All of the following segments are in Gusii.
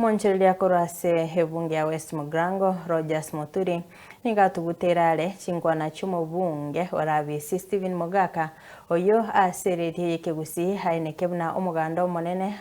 Omonchereria korwa ase ebunge ya West Mugrango, Rogers Moturi, nigo atuguteire are chinkwana chi'omobunge o Rabisi Stephen Mogaka, oyio ase eredio y'ekegusii aineke buna omoganda omonene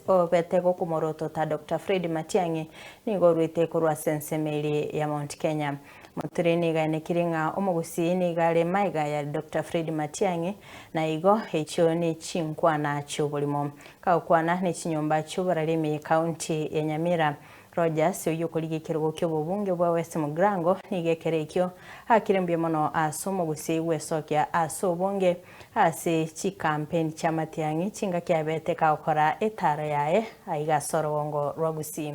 obete gokomorotota Doctor Fred Matiang'i nigo orwete korwa ase ensemo eria ya Mount Kenya. Moturi nigaenekiri ng'a omogusii nigo are maega ya Doctor Fred Matiang'i, na igo echio nechinkwana chi'oborimo. Kagokwana nechinyomba chi'oborari ime County ya Nyamira, Rogers oyio okorigia ekerogo ki'obobunge bwa West Mugrango nigo ekero ekio aakire mbuya mono ase omogusii gwesokia ase obonge ase chikampeni chia Matiang'i chingaki abete kagokora etaaro yaye aiga ase orogongo rwa Gusii.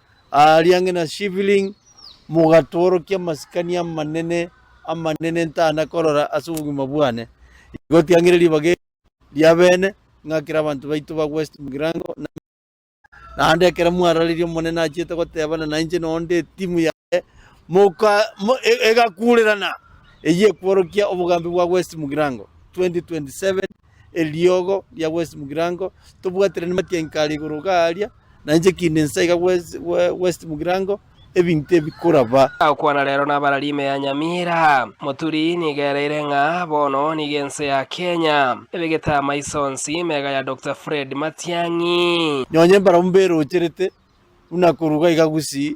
Aaria ang'e na Shifling mogatoorokia amasikani amanene amanene ntana korora ase obogima bwane. Igo tiang'ire ribaga eri ri'abeene, ng'akere abanto baito ba West Mgirango na Migori. Naende ekero mwarareria Omonene achiete gotebana nainche noonde etimu yaye, moka, mo, e, egakuurerana, eyio ekworokia obogambi bwa West Mgirango 2027 eriogo ria west mugirango, tobwatire namatianki are igoro iga aria, na inche kinde inse iga west mugirango, ebinto ebi koraba. Agokwana rero nabarari ime ya Nyamira. Moturi nigo ereire ng'a bono nigo ense ya Kenya ebegete amaiso onsi mega ya Doctor Fred Matiang'i. Nonye mbarabwo mberoocherete buna koruga iga gusii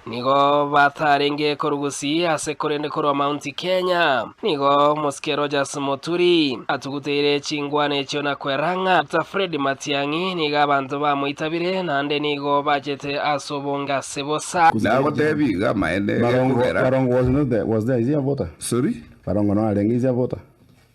Nigo batarenge korwa Gusii ase korende korwa Mount Kenya. Nigo omosike Rogers Muturi atuguteire chingwana echio na kwerang'a. Dr. Fred Matiang'i nigo abanto bamoitabire naende nigo bachete ase obonge ase bosa. Nagoteebie iga amaene, egekogera. Barongo was not there, was there, is he a voter? Sorry? Barongo narenge, is he a voter?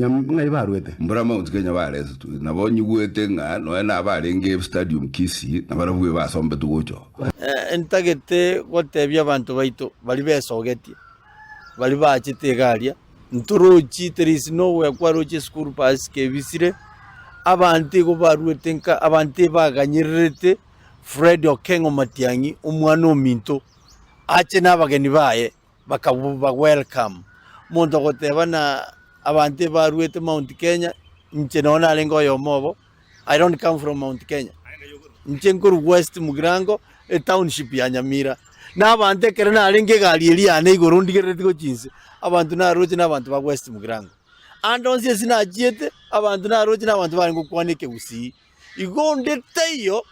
Ng'ai barwete? Mbura Mount Kenya baresetwe nabo nyigwete ng'a nonya nabarenge Stadium Kisii na barabwo basombetwe gocha oo. Ntagete gotebia abanto baito baria besogetie, baria baachete egaria, Ntorochi, there is no where kwarochire school bus kebisire, abanto igo barwete nka abanto ebaganyererete Fred Okengo Matiang'i, omwana ominto, ache nabageni baye. Bakaba welcome. Omonto ogoteba na abanto ebaruete Mount Kenya, inche nonya narenge oyomo obo, I don't come from Mount Kenya. Inche nkorwa West Mugirango, etownship ya Nyamira. Na abanto ekero narenge egari eria yane igoro ndigerereti gochia inse, abanto naroche na abanto ba West Mugirango. Ande onsi ase nachiete, abanto naroche na abanto barenge gokwana ekegusii. Igo onde taiyo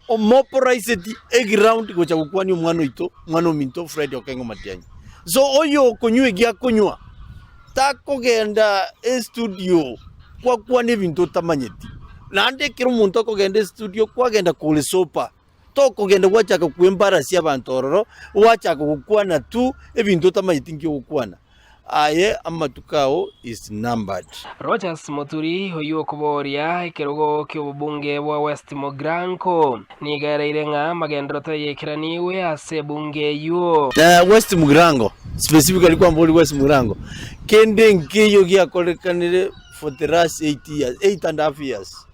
omopraiseti eground gocha gokwania omwana oito, omwana ominto Fred Okengo Matianyi. So oyo okonywa egiakonywa takogenda estudio kwakwana ebinto otamanyeti. Naende ekero omonto akogenda estudio kwagenda kore sober. tokogenda gwachaka kw'embara ase abanto ororo, gwachaka gokwana tu ebinto otamaeti nki ogokwana. Aye amatuko ao is numbered. Rogers Muturi oyio okobooria ekerogo ki'obobunge bwa West Mogranko nigo ereire ng'a amagenderero tayaikeranigwe ase ebunge eyio. Eh, West Mugrango, specifically kwambori West Mugrango, kende nkeiyo giakorekanire for the last eight years, eight and a half years.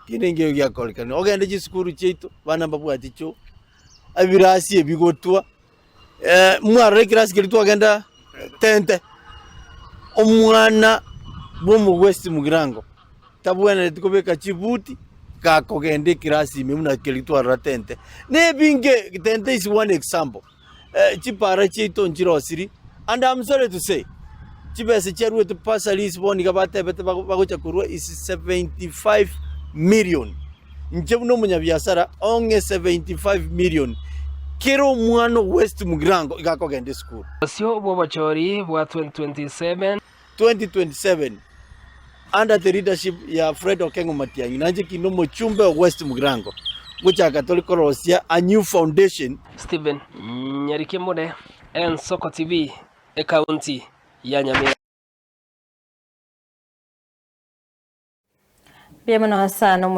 Kende nkeiyo giakorekanirie. Ogende chisukuru chiaito, abana mbabwati choo, ebirasi ebi bigotwa, eh, mwarora ekirasi keria twagenda tente, omwana bwa omogwesti mogirango, tabwenereti kobeka chibuti, gakogenda ekirasi ime buna keria twarora tente. Nebinge, tente is one example. chipaara chiaito nchirosirie, and am sorry to say, chibesa chiaruetwe bursaries bono iga batebete bago- bagocha korwa is 75 million. Inche buna omonyabiasara ong'e 75 million, kera omwana o west mugirango iga akogenda esukuru. Obosio bw'obochori bwa 2027. 2027 under the leadership ya Fred Okengo Matiang'i nainche kinde omochumbe o West Mugirango ngochaka tore korosia a new foundation Stephen Nyarikemure, Ensoko TV, Ekaunti ya Nyamira. Mbuya mono ase ano omoriri.